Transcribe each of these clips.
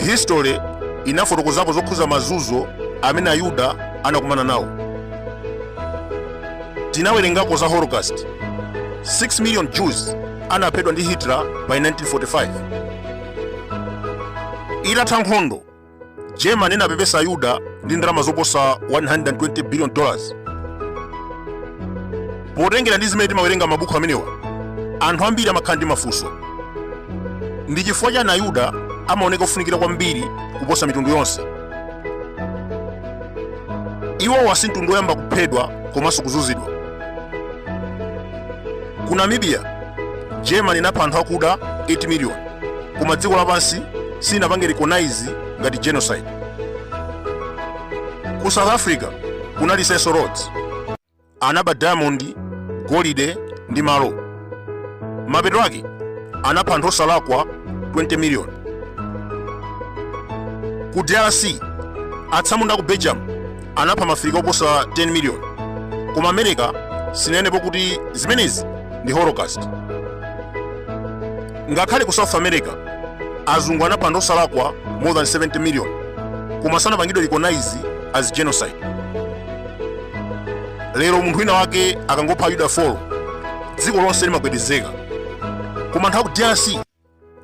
history inafotokozapo zokhuza mazunzo amene ayuda anakumana nawo tinawerengako za holocaust 6 million jews anaphedwa ndi hitler by 1945 Itatha nkhondo, Germany inapepesa Ayuda ndi ndalama zoposa 120 billion dollars. Potengera ndi zimene timawerenga mabuku amenewa, anthu ambiri amakhala ndi mafunso. Ndi chifukwa chani Ayuda amaoneka kufunikira kwambiri kuposa mitundu yonse? Iwowa si mtundu woyamba kuphedwa komanso kuzunzidwa. Ku Namibia germany inapha anthu akuda 8 million koma dziko lapansi silinapange recognize ngati genocide ku south africa kunali cecil rhodes anaba diamond golide ndi malo mapeto ake anapha anthu osalakwa 20 million ku drc atsamunda aku belgium anapha mafirika oposa 10 miliyoni koma america sinanenepo kuti zimenezi ndi holocaust ngakhale ku south america azungu anapha anthu osalakwa more than 70 million koma sanapangidwe recognize as genocide lero munthu wina wake akangopha ayuda 4 dziko lonse limagwedezeka koma anthu aku drc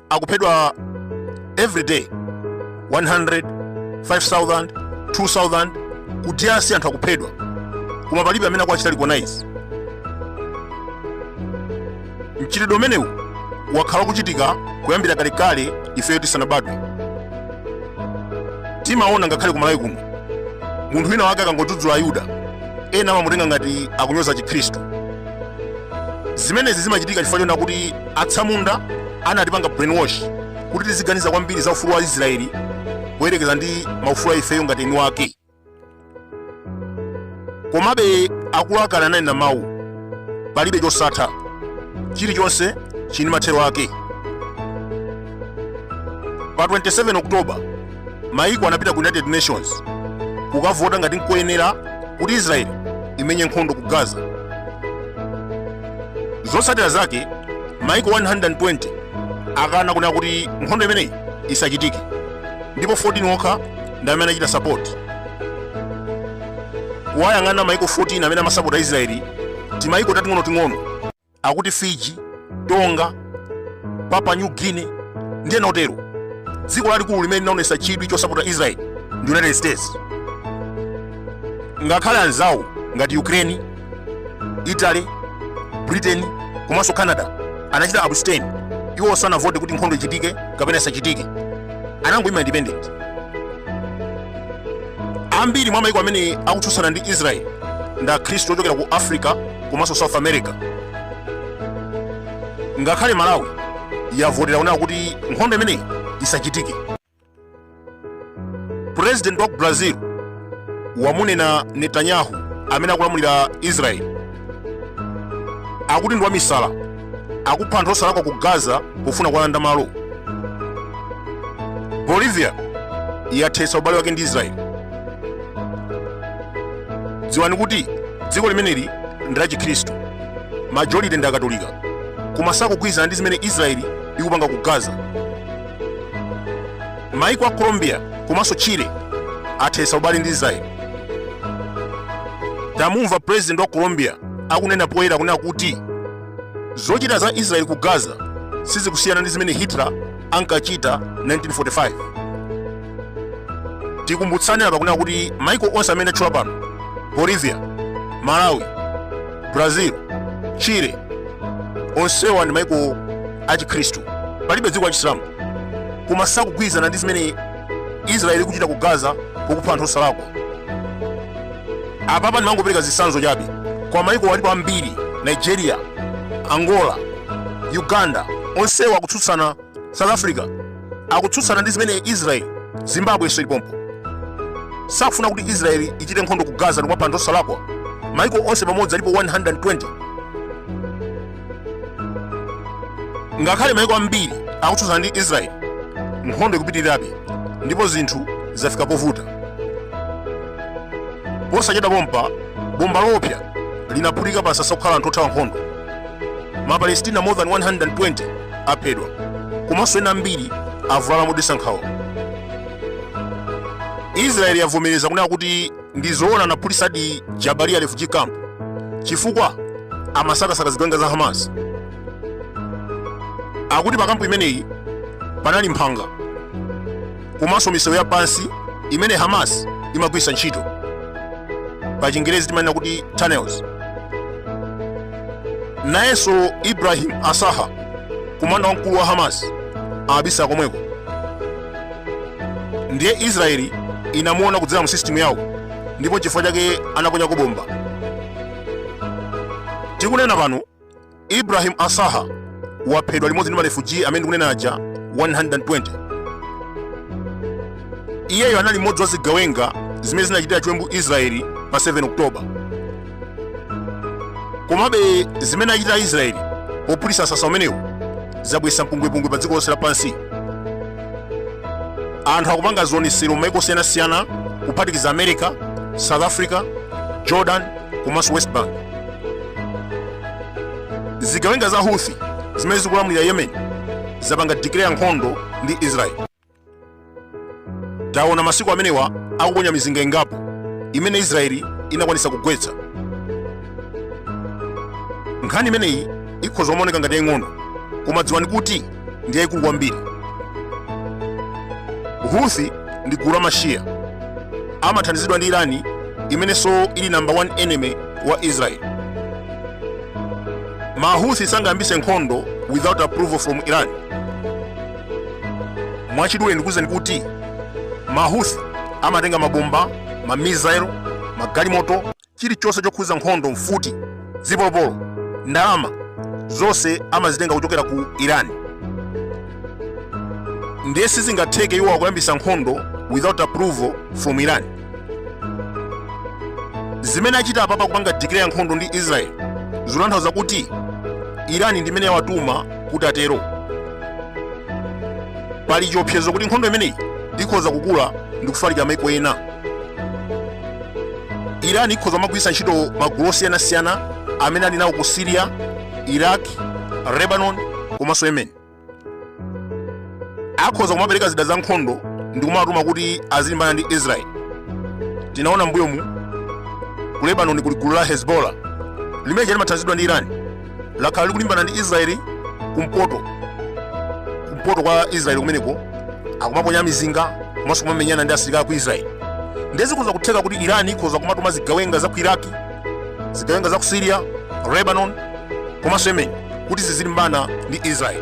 akuphedwa every day 100 5000 2000 ku drc anthu akuphedwa koma palibe amene akuwachita recognize mchitidwe umenewu wakhala kuchitika kuyambira kalekale ifeyo tisanabadwe timaona ngakhale ku malawi kuno munthu wina wake akangodzudzula ayuda ena amamutenga ngati akunyoza chikhristu zimenezi zimachitika chifukwa chona kuti atsamunda anatipanga brainwash kuti tiziganiza kwambiri za ufulu wa israeli kuyerekeza ndi maufulu a ifeyo ngati eni wake komabe akulu akale anali na mawu palibe chosatha chilichonse chili ndi mathero ake pa 27 oktoba mayiko anapita ku united nations kukavota ngati nkoyenera kuti israeli imenye nkhondo ku gaza zotsatira zake mayiko 120 anakana kunena kuti nkhondo imeneyi isachitike ndipo 14 okha ndi amene anachita sapoti kuwayang'ana mayiko 14 amene amasapota israeli timayiko tating'onoting'ono akuti Fiji, Tonga, Papua New Guinea, ndi ena otero. Dziko lalikulu limene linaonetsa chidwi chosapotera Israel ndi United States. Ngakhale anzawo ngati Ukraine, Italy, Britain komanso Canada anachita abstain, iwo sanavote kuti nkhondo ichitike kapena isachitike, anangoima independent. Ambiri mwa mayiko amene akutsutsana ndi Israel ndi Akhristu ochokera ku Africa komanso south america ngakhale malawi yavotera kunena kuti nkhondo imeneyi isachitike president wa ku brazil wamunena netanyahu amene akulamulira israeli akuti ndi wamisala akupha anthu osalakwa ku gaza pofuna kuwalanda malo bolivia yathetsa ubale wake ndi israeli dziwani kuti dziko limeneli ndi la chikhristu majority ndi akatolika koma sakugwirizana ndi zimene israeli ikupanga ku gaza maiko a colombia komanso chile athetsa ubale ndi israeli tamumva president wa colombia akunena poyera kunena kuti zochita za israeli ku gaza sizikusiyana ndi zimene hitler ankachita 1945 tikumbutsane apa kunena kuti maiko onse amene ndatchula pano bolivia malawi brazil chile onsewa ndi maiko achikhristu palibe dziko la chisilamu koma sakugwirizana ndi zimene israeli ikuchita ku gaza pokupha anthu osalakwa apapa ndimangopereka zitsanzo chabe koma maiko alipo ambiri nigeria angola uganda onsewa akutsutsana south africa akutsutsana ndi zimene israeli zimbabwe inso ili pompo sakufuna kuti israeli ichite nkhondo ku gaza ndikumapha anthu osalakwa maiko onse pamodzi alipo 120 ngakhale maiko ambiri akutsutsana ndi israeli nkhondo ikupitirirabe ndipo zinthu zafika povuta posachedwa pompa bomba loopsa linaphulika pa msasa wokhala anthu othawa nkhondo mapalestina more than 120 aphedwa komanso ena ambiri avulala modetsa nkhawa israeli yavomereza kunena kuti ndi zoona anaphulitsadi jabalia refugee camp chifukwa amasakasaka zigawenga za hamas akuti pa kampu imeneyi panali mphanga komanso misewu ya pansi imene hamas imagwiritsa ntchito pa chingerezi timanena kuti tunnels nayenso ibrahim asaha komanda wamkulu wa hamas amabisala komweko ndiye israeli inamuona kudzera mu system yawo ndipo nchifukwa chake anaponyako bomba tikunena pano ibrahim asaha waphedwa limodzi ndi marefuji amene tikunena aja 120 iyeyo anali mmodzi wa zigawenga zimene zinachitira chiwembu israeli pa 7 oktoba komabe zimene achita aisraeli pophulitsa msasa umenewu zabweretsa mpungwepungwe pa dziko lonse lapansi anthu akupanga zionetsero m'maiko osiyanasiyana kuphatikiza america south africa jordan komanso west bank zigawenga za houthi zimene zikulamulira yemen zapanga declare nkhondo ndi israeli taona masiku amenewa akuponya mizinga ingapo imene israeli inakwanisa kugwetsa nkhani imeneyi ikhoza kumaoneka ngati yaying'ono koma dziwani kuti ndi yayikulu kwambiri huthi ndi gulu la mashiya amathandizidwa ndi irani imenenso ili namba 1 enemy wa israeli mahuthi sangayambise nkhondo without approval from iran mwachidule ndikuwuzeni kuti mahuthi amatenga mabomba mamisaelo magalimoto chilichonse chokhuza nkhondo mfuti zipolopolo ndalama zonse amazitenga kuchokera ku iran ndiye sizingatheke iwo kuyambisa nkhondo without approval from iran zimene achita apapa kupanga declare nkhondo ndi israel zikutanthauza kuti irani ndi imene yawatuma kuti atero pali chiopsezo kuti nkhondo imeneyi ikhoza kukula ndi kufalikira maiko ena irani ikhoza kumagwiritsa ntchito magulu osiyanasiyana amene ali nawo ku syria iraq lebanon komanso yemen akhoza kumapereka zida za nkhondo ndi kumawatuma kuti azilimbana ndi israeli tinaona mbuyomu ku lebanoni kuli gulu la hezbollah limene limathandizidwa ndi irani lakhala likulimbana ndi israeli kumpoto kwa israeli kumeneko akumaponya mizinga komanso kumamenyana ndi asilikali ku israeli nde zikhoza kutheka kuti irani ikhoza kumatuma zigawenga za ku iraki zigawenga za ku siriya lebanon komanso yemen kuti zizilimbana ndi israel